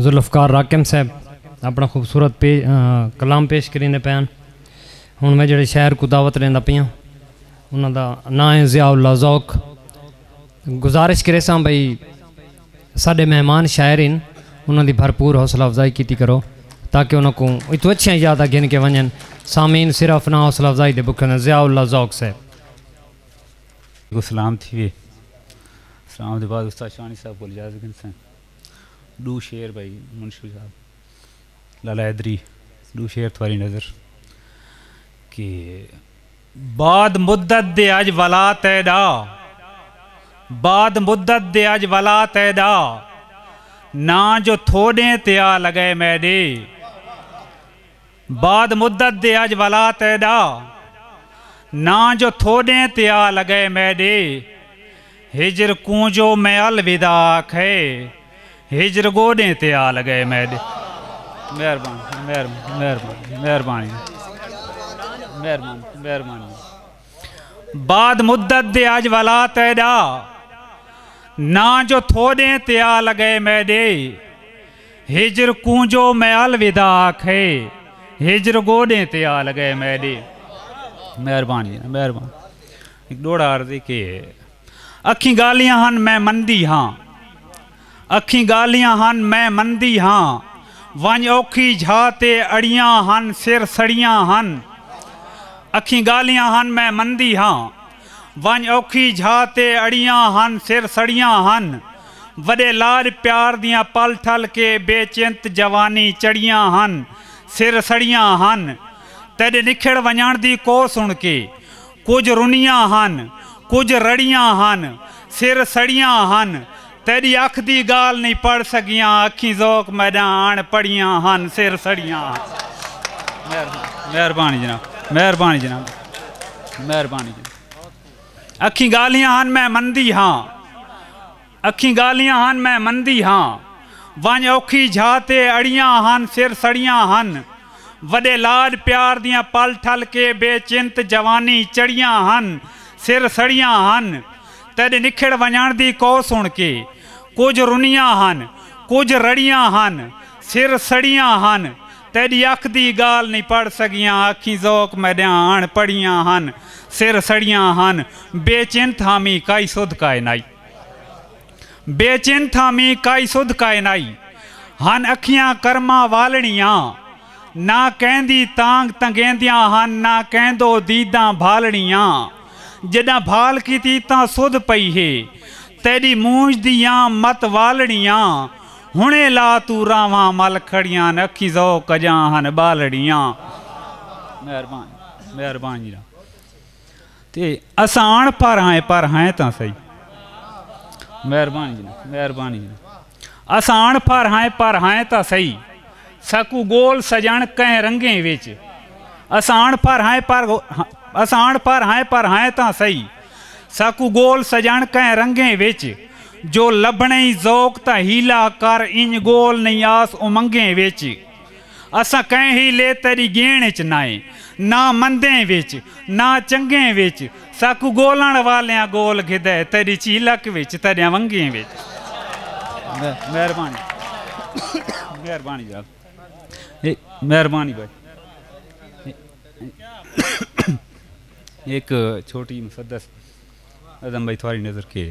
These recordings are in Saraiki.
ذوالفقار راقم صاحب اپنا خوبصورت کلام پیش کریندے پئے ہن۔ ہݨ میں جیڑھے شاعر کوں دعوت ݙیندا پیاں انہاں دا ناں ہے ضیاء اللہ ذوق۔ گزارش کریساں بھئی ساݙے مہمان شاعر ہن انہاں دی بھرپور حوصلہ افزائی کیتی کرو تاکہ انہاں کوں اتوں اچھیاں یاداں گھن کے ونڄن۔ سامعین صرف ناں حوصلہ افزائی دے بکھے ہوندن۔ ضیاء اللہ ذوق صاحب۔ کوں سلام تھیوے۔ سلام دے بعد استاد شاہݨی صاحب کول اجازت گھنساں۔ ݙو شعر بھائی منشی صاحب لالا حیدری ݙو شعر تھواری نظر کہ بعد مدت دے اج ولا تیݙا بعد مدت دے اج ولا تیݙا ناں جو تھوݙیں تے آ لڳئے میݙے۔ بعد مدت دے اج ولا تیڈا ناں جو تھوڈیں تے آ لگئے میڈے ہجر کوں جو میں الوداع آکھئے ہجر گوڈیں تے آ لگئے میڈے مہربانی مہربانی مہربانی مہربانی مہربانی بعد مدت دے اج ولا تیڈا ناں جو تھوڈیں تے آ لگئے میڈے ہجر کوں جو میں الوداع آکھے ہجر گوڈیں تے آ لگے میڈے مہربانی مہربانی ایک ڈوڑا عرض کے اکھیں گالیاں ہن میں مندی ہاں اکھیں گالیاں ہن میں مندی ہاں ونج اوکھی جھا تے اڑیاں ہن سر سڑیاں ہن اکھیں گالیاں ہن میں مندی ہاں ونڄ اوکھی جھا تے اڑیاں ہن سر سڑیاں ہن وݙے لاݙ پیار دیاں پل ٹھل کے بے چنت جوانی چڑھیاں ہن سر سڑیاں ہن تیݙے نکھڑ ونڄݨ دی کوہ سݨ کے کجھ رنیاں ہن کجھ رڑیاں ہن سر سڑیاں ہن تیݙی اکھ دی ڳالھ نئیں پڑھ سڳیاں اکھیں ذوق میݙاں اݨ پڑھیاں ہن سر سڑیاں ہن مہربانی جناب مہربانی جناب مہربانی جناب اکھیں ڳالھیاں ہن میں مندی ہاں اکھیں ڳالھیاں ہن میں مندی ہاں ونج اوکھی جھا تے اڑیاں ہن سر سڑیاں ہن وڈے لاڈ پیار دیاں پل ٹھل کے بے چنت جوانی چڑیاں ہن سر سڑیاں ہن تیݙے نکھڑ ونڄݨ دی کوہ سݨ کے کجھ رنیاں ہن کجھ رڑیاں ہن سر سڑیاں ہن تیݙی اکھ دی ڳالھ نئیں پڑھ سڳیاں اکھیں ذوق میݙیاں اݨ پڑھیاں ہن سر سڑیاں ہن بے چن تھاں مینھ کائی سدھ کائے نائی بے چن تھاں مینھ کائی سدھ کائے نائی ہن اکھیاں کرماں والݨیاں نہ کیندی تانگ تنگیندیاں ہن نہ کیندو دیداں بھالݨیاں۔ جݙاں بھال کیتی تاں سدھ پئی ہے تیݙی مونجھ دیاں مت والڑیاں ہݨیں لا توں راہواں مل کھڑیاں ہن اکھیں ذوق اڄاں ہن ٻالڑیاں مہربان مہربان جی تے اساں اݨ پڑھ ہیں پر ہیں تاں سہی مہربان جی مہربان جی اساں اݨ پڑھ ہیں پر ہیں تاں سہی ساکوں گول سجن کہیں رنگیں وچ اساں اݨ پڑھ ہائیں پر اساں اݨ پڑھ ہائیں پر ہائیں تاں سہی ساکوں گول سجن کہیں رنگیں وچ جو لبھنئیں ذوق تاں حیلہ کر انج گول نئیں آس امنگیں وچ اساں کہیں حیلے تیݙی ڳیݨ اچ نائیں نہ مندیں وچ نہ چنگیں وچ ساکوں گولݨ والیاں گول گھدا ہے تیݙی چیلک وچ تیݙیاں ونگیں وچ مہربانی مہربانی جناب مہربانی بھائی ایک چھوٹی مسدس اعظم بھائی تھوڑی نظر کے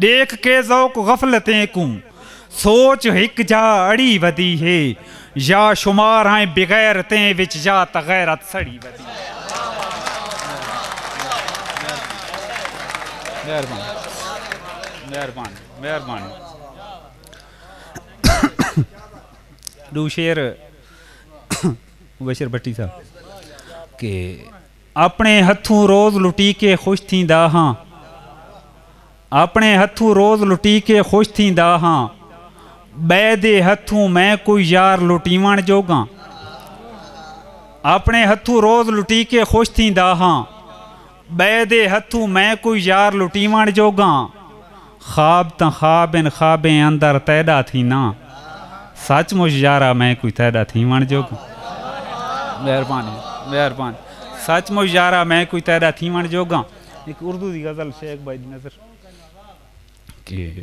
ݙیکھ کے ذوق غفلتیں کوں سوچ ہک جا اڑی ودی ہے یا شمار ہیں بغیرتیں وچ یا تاں غیرت سڑی ودی ہے۔ آپݨے ہتھوں روز لٹی کے خوش تھیندا ہاں آپݨے ہتھوں روز لٹی کے خوش تھیندا ہاں ٻئے دے ہتھوں میں کوئی یار لٹیوݨ جوگاں آپݨے ہتھوں روز لٹی کے خوش تھیندا ہاں ٻئے دے ہتھوں میں کوئی یار لٹیوݨ جوگاں خواب تاں خواب ہن خوابیں اندر تیݙا تھیناں سچ مچ یارا میں کوئی تیݙا تھیوݨ جوڳا مہربانی مہربانی سچ مچ یارا میں کوئی تیݙا تھیوݨ جوڳا ہک اردو دی غزل شیخ بھائی دی نظر کہ